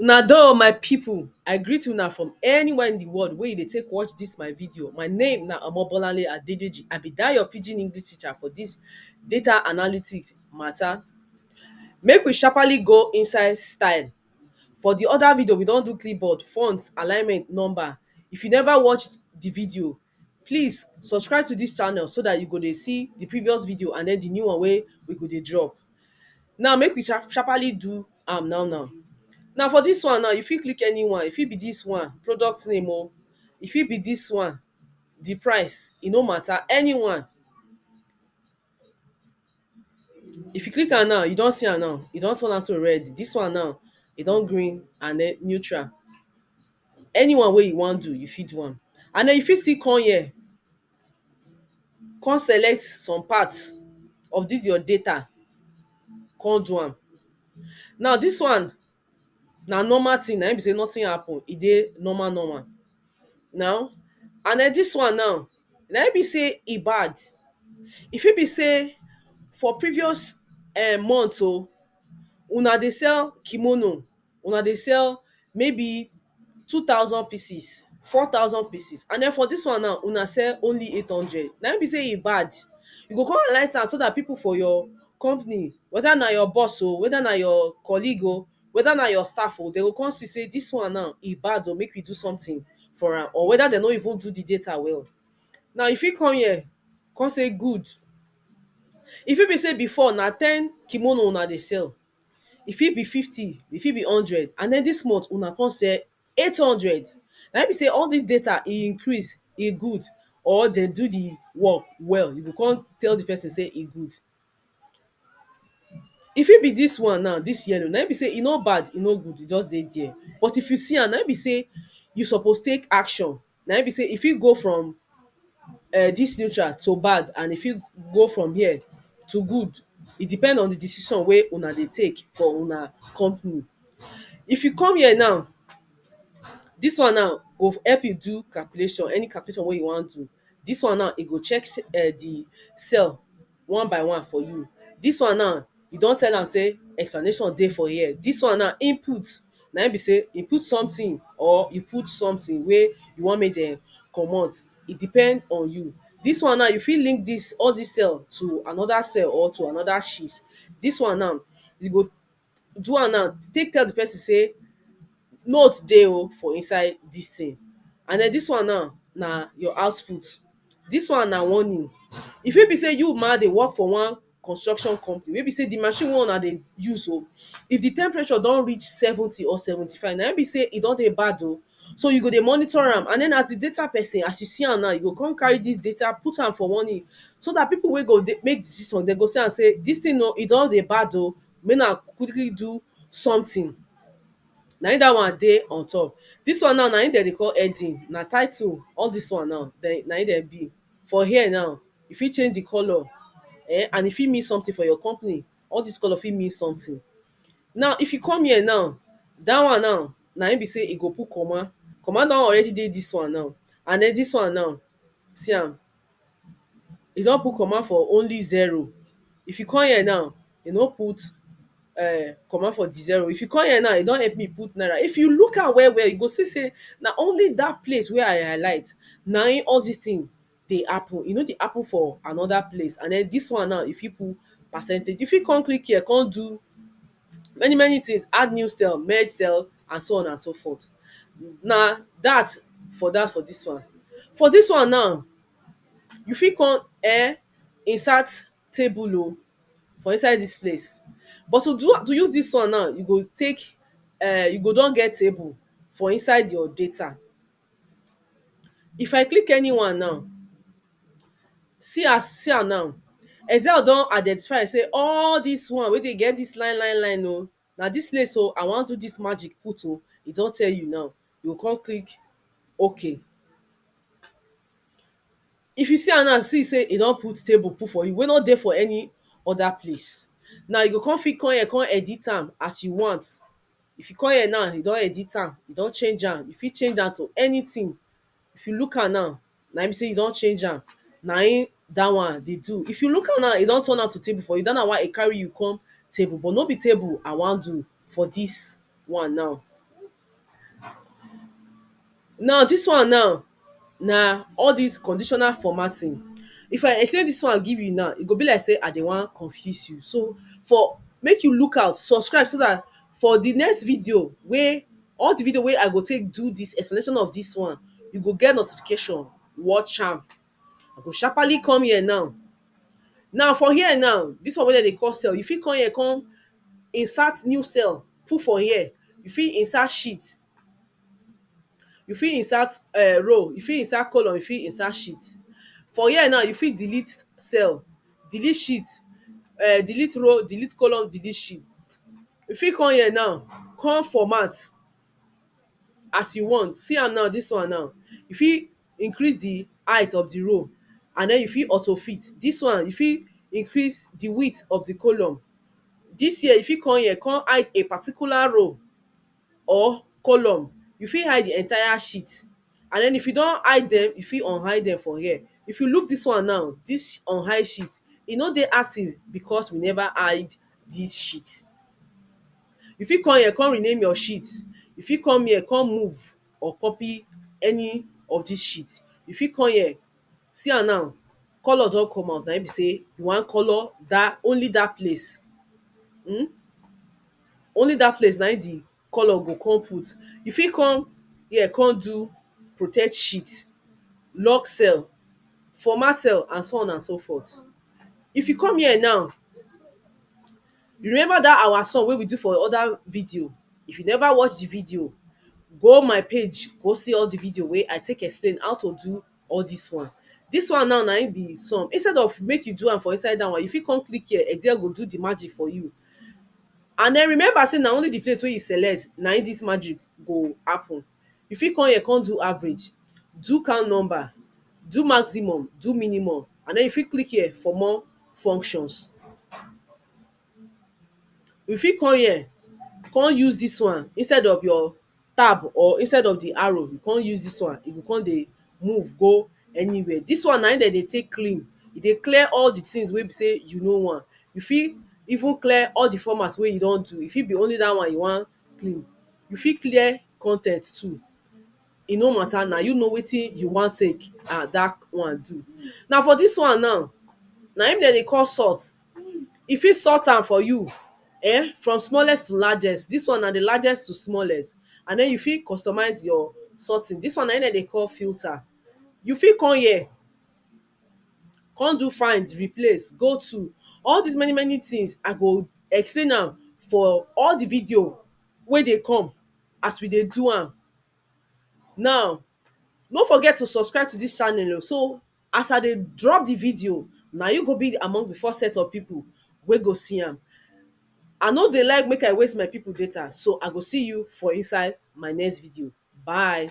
Una doh my people, I greet una from anywhere in the world wey you dey take watch this my video. My name na Omobolanle Adedeji, I be that your pidgin English teacher for this data analytics matter. Make we sharpaly go inside style, for the other video we don do clipboard, font, alignment, number. If you never watch the video, Please subscribe to dis channel so dat you go dey see di previous video and den di new one wey we go dey drop. Now make we sha sharpaly do am now now. Now for dis one now you fit click any one, e fit be dis one, product name o, e fit be dis one, di price, e no matter, any one. If you click am now, you don see am now. E don turn am to red. Dis one now, e don green and den neutral. Anyone wey you wan do, you fit do am. And den you fit still come here, come select some part of dis your data, come do am. Now, dis one na normal thing na im be sey nothing happen, e dey normal normal now and den dis one now na im be sey e bad e fit be sey for previous um month oh una dey sell kimono una dey sell maybe two thousand pieces, four thousand pieces and den for dis one now una sell only eight hundred na im be sey e bad you go come analyse am so dat people for your company whether na your boss oh, whether na your colleague oh whether na your staff oh, dem go come see sey dis one now e bad oh, make we do something for am or whether dem no even do the data well now you fit come here come sey good e fit be sey before na ten kimono una dey sell e fit be fifty, e fit be hundred and den dis month una kon sell eight hundred naim be sey all dis data e increase, e good or den do di work well, you go kon tell di person sey e good. E fit be dis one now, dis yellow naim be sey e no bad, e no good, e just dey dier but if you see am naim be sey you suppose take action na im be sey e fit go from um dis neutral to bad and e fit go from here to good. E depend on di decision wey una dey take for una company. If you come here now, dis one now go help you do calculation, any calculation wey you wan do. Dis one now e go check um di cell one by one for you dis one now you don tell am sey explanation dey for here dis one now input na im be sey you put something or you put something wey you want make dem comot e depend on you dis one now you fit link dis all dis cell to another cell or to another sheet dis one now you go do am now take tell di person sey note dey oh for inside dis thing and den dis one now na your output dis one na warning e fit be sey you ma dey work for one construction company wey be sey di machine wey una dey use so if di temperature don reach seventy or seventy five na im be sey e don dey bad oh so you go dey monitor am and den as di data person as you see am now you go come carry dis data put am for warning so dat people wey go dey make decision dem go see am sey dis thing oh e don dey bad oh make na quickly do something na im that one dey on top this one now na im dem dey call heading na title all this one now dem na im dem be for here now you fit change the colour um and e fit mean something for your company all this colour fit mean something now if you come here now that one now na im be say e go put comma comma don already dey this one now and then this one now see am e don put comma for only zero if you come here now e no put um comma for di zero if you come here now e don help me put naira if you look am well well you go see sey na only dat place wey I highlight na im all dis thing dey happen e no dey happen for another place and den dis one now you fit put percentage you fit come click here come do many many things, add new cell, merge cell and so on and so forth na dat for dat for dis one. For dis one now, you fit come um insert table oh for inside dis place but to do am to use dis one now, you go take um you go don get table for inside your data If I click anyone now see as see am now Excel don identify am sey all dis one wey dey get dis line line line oh na dis place oh I wan do dis magic put oh e don tell you now you go come click ok If you see am now see sey e don put table put for you wey no dey for any other place Now you go come fit come here come edit am as you want If you come here now, you don edit am, you don change am, you fit change am to anything. If you look am now, na im be sey you don change am. Na im dat one dey do. If you look am now, e don turn am to table for you. Dat na why e carry you come table. But no be table I wan do for dis one now. Now dis one now na all dis conditional formatting if I explain dis one give you now e go be like sey I dey wan confuse you so for make you look out subscribe so dat for di next video wey all di video wey I go take do dis explanation of dis one you go get notification watch am I go sharpaly come here now Now for here now dis one wey dem dey call cell you fit come here come insert new cell put for here you fit insert sheet You fit insert um row, you fit insert column, you fit insert sheet. For here now, you fit delete cell, delete sheet, um delete row, delete column, delete sheet. You fit come here now, come format as you want. See am now, dis one now. You fit increase the height of the row and den you fit auto fit. Dis one, you fit increase the width of the column. Dis here, you fit come here, come hide a particular row. or column, you fit hide di entire sheet and den if you don hide dem, you fit unhide dem for here. If you look dis one now, dis unhide sheet, e no dey active becos we neva hide dis sheet. You fit come here come rename your sheet, you fit come here come move or copy any of dis sheet, you fit come here, see am now, colour don come out, naim be sey you wan colour dat, only dat place, hmm. only dat place na im di colour go come put. You fit come here come do protect sheet, lock cell, format cell and so on and so forth. If you come here now, you remember dat our song wey we do for other video, if you never watch di video, go my page go see all di video wey I take explain how to do all dis one dis one now na im be some instead of make you do am for inside dat one you fit come click here excel go do the magic for you and then remember say na only the place wey you select na im dis magic go happen you fit come here come do average do count number do maximum do minimum and then you fit click here for more functions you fit come here come use dis one instead of your tab or instead of di arrow you come use dis one, e go come dey move go anywhere. Dis one na im dem dey take clean, e dey clear all di things wey be sey you no want. You fit even clear all di format wey you don do, e fit be only dat one you wan clean. You fit clear con ten t too, e no matter na you know wetin you wan take dat one do. Na for dis one now, na im dem dey call sort. e fit sort am for you um from smallest to largest, dis one na di largest to smallest and den you fit customise your sorting, dis one na im dem dey call filter you fit come here come do find, replace, go to all dis many many things I go explain am for all di video wey dey come as we dey do am now no forget to subscribe to dis channel oh so. As I dey drop the video, na you go be among the first set of people wey go see am. I no dey like make I waste my people data so I go see you for inside my next video. Bye!